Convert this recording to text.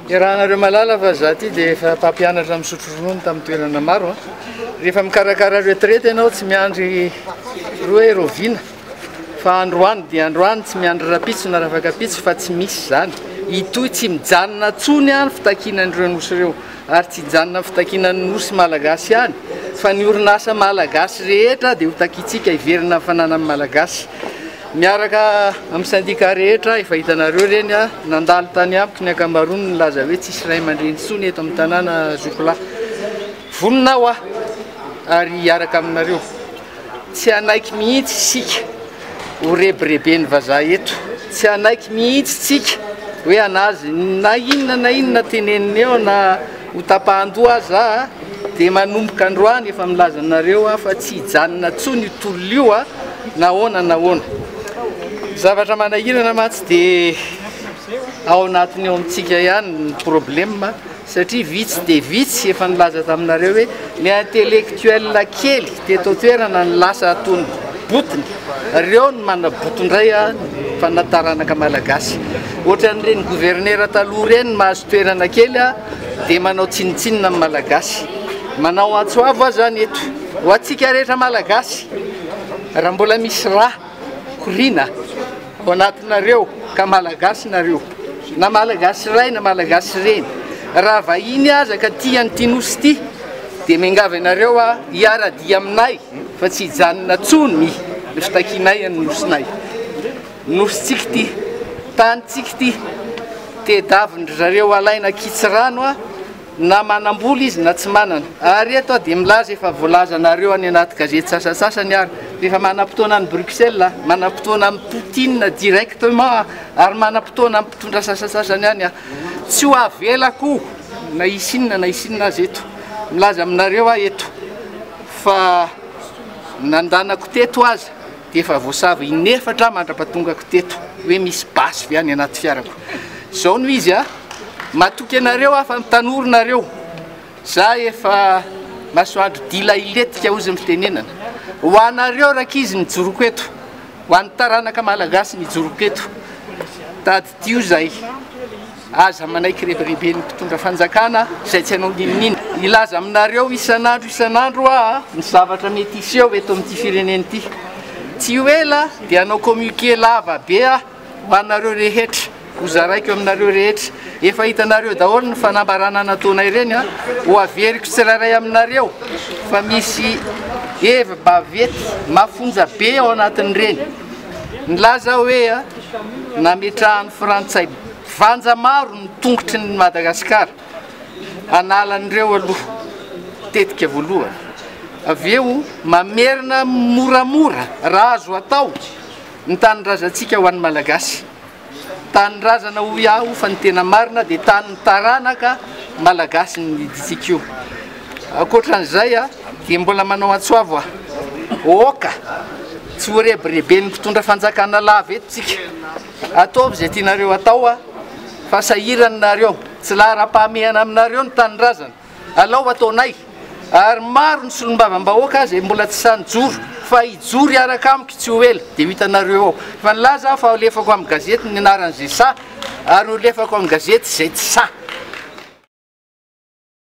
Iarahanareo mahalala fa za ty dia efa mpampianatra misotro ronono tamin'ny toerana maro. Rehefa mikarakara retraite ianao tsy miandry roa hoe roviana fa androany dia androany tsy miandry rapitso na rafakapitso fa tsy misy izany. Itoy tsy mijanona tsony any fitakiana an'ireo nosy ireo ary tsy hijanona fitakiana ny nosy malagasy ihany fa ny orinasa malagasy rehetra dia ho takintsika hiverina ny fananan'ny malagasy. Miaraka amin'ny syndicat rehetra efa hitanareo ireny nandalo tany amiko ny ankamaroany nilaza hoe tsisy ray aman-dreny intsony eto amin'ny tanàna Zocola. Vonona aho ary hiaraka aminareo. Tsy hanaiky mihitsy isika ho rebireben'ny vazaha eto. Tsy hanaiky mihitsy isika hoe hanazy na inona na inona teneniny eo na ho tapahan-doha aza dia manomboka androany efa milaza aminareo aho fa tsy hijanona intsony io tolona io. Nahoana na ahoana? Zavatra manahirana mantsy dia ao anatiny ao amintsika ihany ny problema satria vitsy dia vitsy efa nilaza taminareo hoe ny intellectuel kely teto an-toerana ny lasa atony botiny reo ny manabotondray a fanataranaka malagasy ohatran'ireny gouvernera taloha ireny mahazo toerana kely a dia manao tsinontsinona ny Malagasy. Manao antso avo aho izany eto, ho antsika rehetra Malagasy, raha mbola misy rà koriana ao anatinareo ka Malagasy nareo, na Malagasy ray na Malagasy reny, raha vahiny aza ka tia an'ity Nosy ity, dia miangavy anareo aho hiara-dia aminay fa tsy hijanona intsony ny fitakianay ny Nosinay. Nosintsika ity, tanintsika ity, tedavin-dry zareo alaina an-kitsirano a, na manam-bola izy na tsy manana. Ary eto aho dia milaza efa voalazanareo any anaty gazety sasantsasany ary rehefa manam-potoana any Bruxelles, manam-potoana amin'i Poutine directement ary manam-potoana amin'ny mpitondra sasantsasany any aho. Tsy ho avelako na hisy inona na hisy inona aza eto. Milaza aminareo aho eto fa nandanako teto aza. dia efa voasava in'efatra mandra-patongako teto hoe misy basy ve any anaty fiarako zao no izy a matoky anareo aho fa ny tanoro nareo za efa masoandro dila iletika ozy ny fitenenana ho anareo rakizy ny joroko eto ho an'ny taranaka malagasy ny joroko eto tady Io izay, aza manaiky rebireben'ny mpitondra fanjakana izay tsy hainao n'inon'inona. Hilaza aminareo isan'andro isan'andro aho ny zavatra mety hiseho eto amin'ity firenena ity. Tsy ho ela dia hanao commuqué lava be aho ho anareo rehetra, ho zaraiko aminareo rehetra. Efa hitanareo daholo ny fanambarana nataonay ireny. Ho averiko tsirairay aminareo fa misy hevi-baventy mafonja be ao anatin'ireny. Nilaza aho hoe. Nametrahan'ny Frantsay vanja maro ny tongotry ny Madagasikara hanala an'ireo aloha tetika voalohany, avy eo mamerina moramora raha azo atao ny tanindrazantsika ho an'ny Malagasy. Tanindrazana hoy aho fa ny tena marina dia tanin'ny taranaka Malagasy ny didintsika io. Ankoatra an'izay dia mbola manao antso avo aho, Oka! tsy ho rebireben'ny mpitondra fanjakana lava eto tsika. Ataovy izay tianareo atao fa sahirana nareo, tsy laharam-pahamehana aminareo ny tanindrazana. Alao ataonay ary maro ny solombavambahoaka izay mbola tsy sahy nijoro fa hijoro hiaraka amiko tsy ho ela dia ho hitanareo ao. Efa nilaza aho fa holefako amin'ny gazety ny anaran'izay sahy ary holefako amin'ny gazety izay tsy sahy.